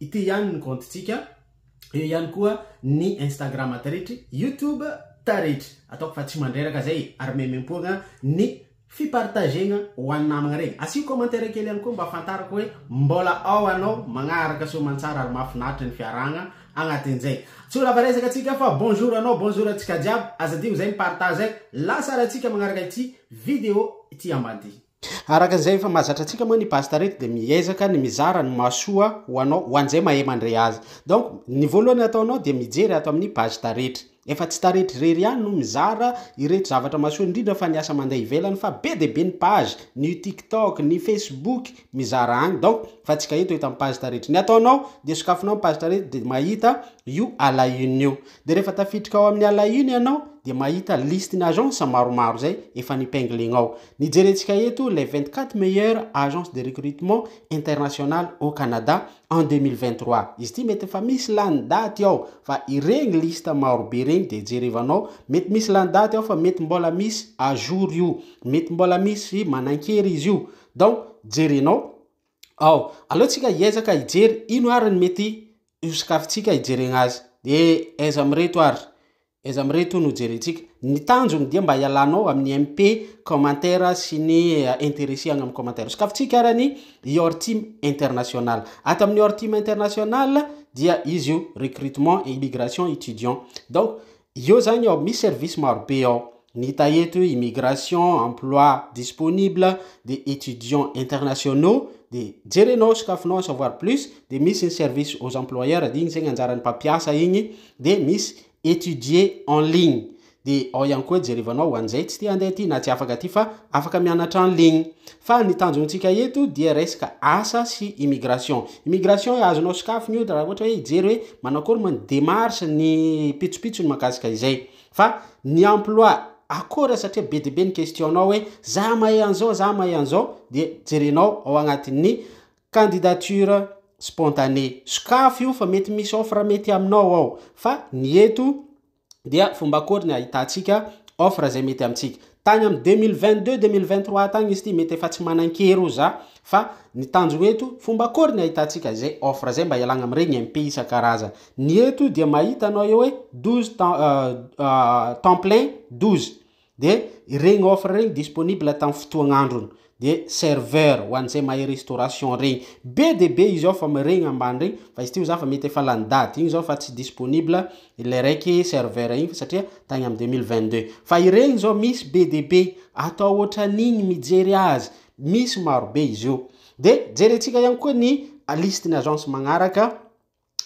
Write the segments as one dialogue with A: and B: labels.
A: Ity ihany ny kaontintsika. Eo ihany koa ny Instagram taretry, YouTube taretry. Ataoko fa tsy mandreraka zay e! Ary memem-poagna ny fi-partagegna ho an'ny namagna regny. Asio commentaire kely ihany koa mba ahafantarako hoe mbola ao anao magnaraka soamantsara ary mahafinaritra ny fiarahagna agnatin'izay. Tsy ho lava resaka antsika fa bonjour anao, bonjour antsika jiaby. Aza adigno zay mi-partage zay. Lasa arahintsika magnaraka ity video ity ambany ity. Araka izay efa mahazatra antsika moa ny pasta reto dia miezaka ny mizara ny mahasoa ho anao ho an'izay mahay mandre azy. Donc ny voalohany ataonao dia mijery ato amin'ny page taretra. Efa tsy taretra irery ihany no mizara ireto zavatra mahasoa indrindra fa ny asa mandeha ivelany fa be dia be ny page, ny io tiktok, ny facebook, mizara any donc fa tsy ka eto eto amin'ny page taretra. Ny ataonao dia sokafinao ny page taretra dia mahita io à la une io. Dia rehefa tafiditra ao amin'ny à la une ianao dia mahita listin'agence maromaro izay efa nipinglinao. Ny jerentsika eto, les 24 meilleures agences de recrutement international au Canada en 2023. Izy ity mety efa misy lany daty ao fa ireny liste maro be ireny dia jerevanao, mety misy lany daty ao fa mety mbola misy à jour io, mety mbola misy manankery izy io. Donc jerenao ao. Aleontsika hiezaka hijery ino ary ny mety hosakafontsika hijerena azy. Dia aiza amin'ireto ary Aiza amin'ireto no jerentsika? Ny tanjony dia mba hialanao amin'ny MP commentaire sy ny interesse agny amin'ny commentaire. Sokafintsika ara ny Your Team International. Ato amin'ny Your Team International dia izy io, recrutement et immigration étudiants. Donc, eo zany ao, misy service maro be ao. Ny hita eto hoe immigration, emploi disponible, dia étudiants internationaux, dia jerenao, sokafinao en savoir plus, dia misy ny service aux employeurs, dia iny zegny anjaran'ny mpampiasa igny, dia misy étudier en ligne, dia ao ihany koa jerevanao ho an'izay tsy te handeha aty na tsy afaka aty fa afaka mianatra en ligne. Fa ny tanjontsika eto dia resaka asa sy immigration. Immigration hoe azonao sokafigny io raha ohatra hoe hijery hoe manao akory moa ny démarche, ny pitsopitsony mahakasika izay. Fa ny emploi akora satria be dia be ny question nao hoe za mahay an'izao za mahay an'izao dia jerenao ao agnatin'ny candidature spontanée. Sokafy io fa mety misy offre mety aminao ao fa ny eto dia fomba akôry ny ahitantsika offre izay mety amintsika. Tany amin'ny deux mille vingt deux, deux mille vingt trois tany izy ity, mety efa tsy manan-kery ho za, fa ny tanjona eto, fomba akory ny ahitantsika izay offre izay mba ialagna amin'ireny impayés isan-karazany. Ny eto dia mahita anao eo hoe douze temps, temps plein douze, dia ireny offre ireny disponible tamin'ny fotoagn'androny. de serveur ho an'izay mahay restauration regny be de be izy ao fa miregny ambany regny fa izy ty oza fa mety efa lany dady igny zao fa tsy disponible ilay raiky serveur igny fa satria tagny am deux mille vingt deux fa iregny zao misy be de be atao ohatran'igny mijery azy misy maro be izy io de jerentsika ihany koa ny liste ny agence magnaraka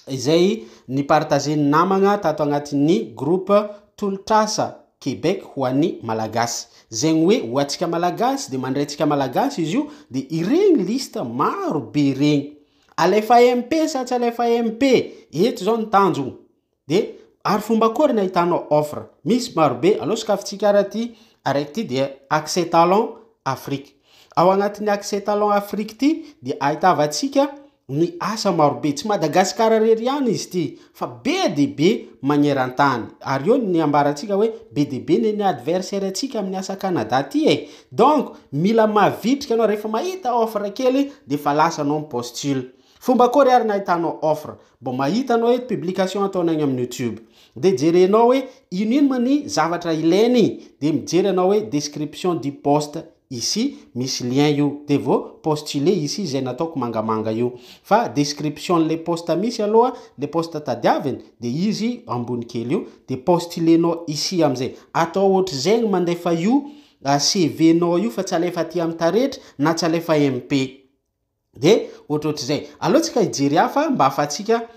A: izay ni-partager-n'ny namagna tato agnatin'ny groupe Tolotr'asa Québec ho an'ny Malagasy. Zegny hoe ho antsika Malagasy de mandray antsika Malagasy izy io de iregny liste maro be regny. Alefa MP sa tsy alefa MP? Eto zao ny tanjogno. De ary fomba akôry ny ahitanao offre? Misy maro be. Aleo sokafintsika ara ty araiky ty dia Accès Talent Afrique. Ao anatin'ny Accès Talent Afrique ity dia ahitavantsika ny asa marobe, tsy Madagasikara irery ihany izy ity fa be dia be magneran-tany, ary eo ny ambarantsika hoe be dia be ne ny adversaire-ntsika amin'ny asa Canada ity e! donc mila mavitrika ianao, rehefa mahita offre kely dia efa lasa ianao mi-postule, Fomba akory ary ny ahitanao offre? Bon mahita anao eto publication ataonao egny amin'ny youtube. Dia jerenao hoe ino ino moa ny zavatra ilainy dia mijery anao hoe description du post ici misy lien io dia vao postuler ici izay nataoko mangamanga io. Fa description an'ilay post misy aloha ilay post tadiaviny dia izy ambony kely io dia postuler-nao ici amin'izay. Atao ohatr'izay ny mandefa io CV-nao io fa tsy alefa aty amin'ny taretra na tsy alefa MP. de ohatrohatr'izay. Aleo tsika hijery hafa mba ahafahantsika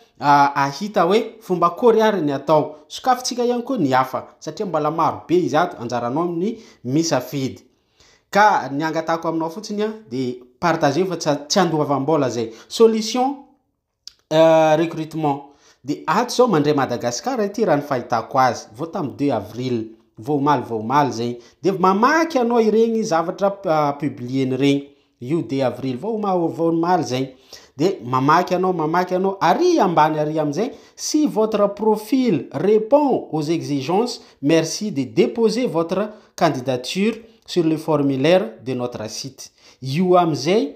A: ahita hoe fomba akory ary ny atao. Sokafintsika ihany koa ny hafa satria mbola maro be izy ato, anjaranao ny misafidy. Ka ny angatahako aminao fotsiny dia partageo fa tsy andoavam-bola zay. Solution Euh, recrutement. Dia ato izao mandre Madagascar ity raha ny fahitako azy. Vao tamin'ny 2 avril. Vao omaly vao omaly izay. Dia mamaky ianao ireny zavatra ah, publier-ny ireny. Io 2 avril. Vao omaly vao omaly izay. Dia mamaky ianao, mamaky ianao. Ary ambany ary amin'izay, si votre profil répond aux exigences, merci de déposer votre candidature sur le formulaire de notre site. Io amin'izay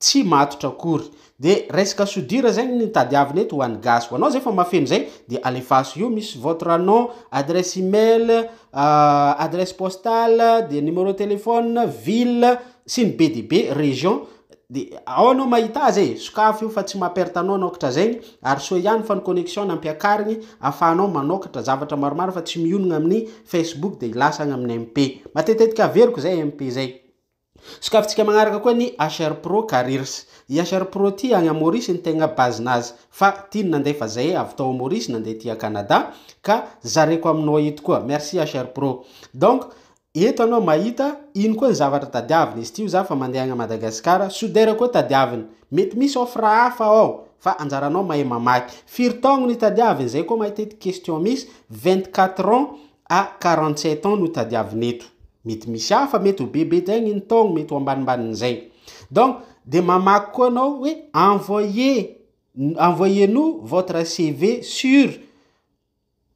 A: tsy matotra akory. De resaka soudure zegny ny tadiavina eto ho an'ny gasy. Ho anao zay fa mahafeno zay de alefaso io misy votre nom, adresse email, adresse postale, de numéro téléphone, ville sy ny be dia be, région, de ao anao mahita azy e, sokafy io fa tsy maha perte anao anaokatra zegny, ary soa ihany fa ny connexion nampiakarigny afahanao manaokatra zavatra maromaro fa tsy mionogna amin'ny facebook de lasa agny amin'ny MP. Matetetiky averiko zay MP zay. Sokafintsika magnaraka koa ny HR Pro Careers. I HR Pro ity agny à Maurice ny tegna base nazy fa tiany nandefa zay avy tao à Maurice nandeha aty à Canada ka zareko aminao eto koa. Merci HR Pro. Donc eto anao mahita ino koa ny zavatra tadiaviny izy ity ho za fa mandeha agny à Madagascar soudeur koa tadiaviny. Mety misy offre hafa ao fa anjaranao mahay mamaky. Firy taogno ny tadiaviny zay koa mahita ity question misy 24 ans A 47 ans no tadiavina eto. Mety misy hafa mety ho bebe jaigny ny taogno mety ho ambanimbanin'izay. Donc de mamaky koa anao hoe envoyer envoyez nous votre CV sur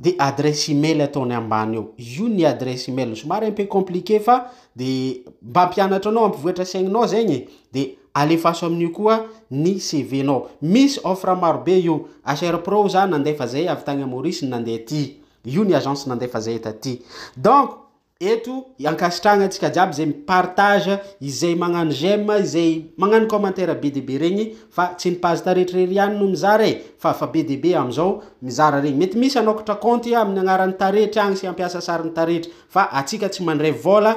A: de adresse email ataony ambany eo. Io ny adresse email somary un peu compliqué fa de mba hampianatra anao hampivoatra saigninao zegny e. De alefaso amin'io koa ny CV-nao. Misy offre marobe io. HR Pro za nandefa zay avy tagny Maurice nandeha aty. Io ny agence nandefa zay taty. Donc eto ankasitrahagna antsika jiaby zay mi partage, izay magnano j'aime, izay magnano commentaire be dia be regny fa tsy ny page taretra irery ihany no mizara e, fa fa be dia be amizao mizara regny. Mety misy anokatra compte aminy agnarany taretra agny sy hampiasa sariny taretra fa atsika tsy mandray vola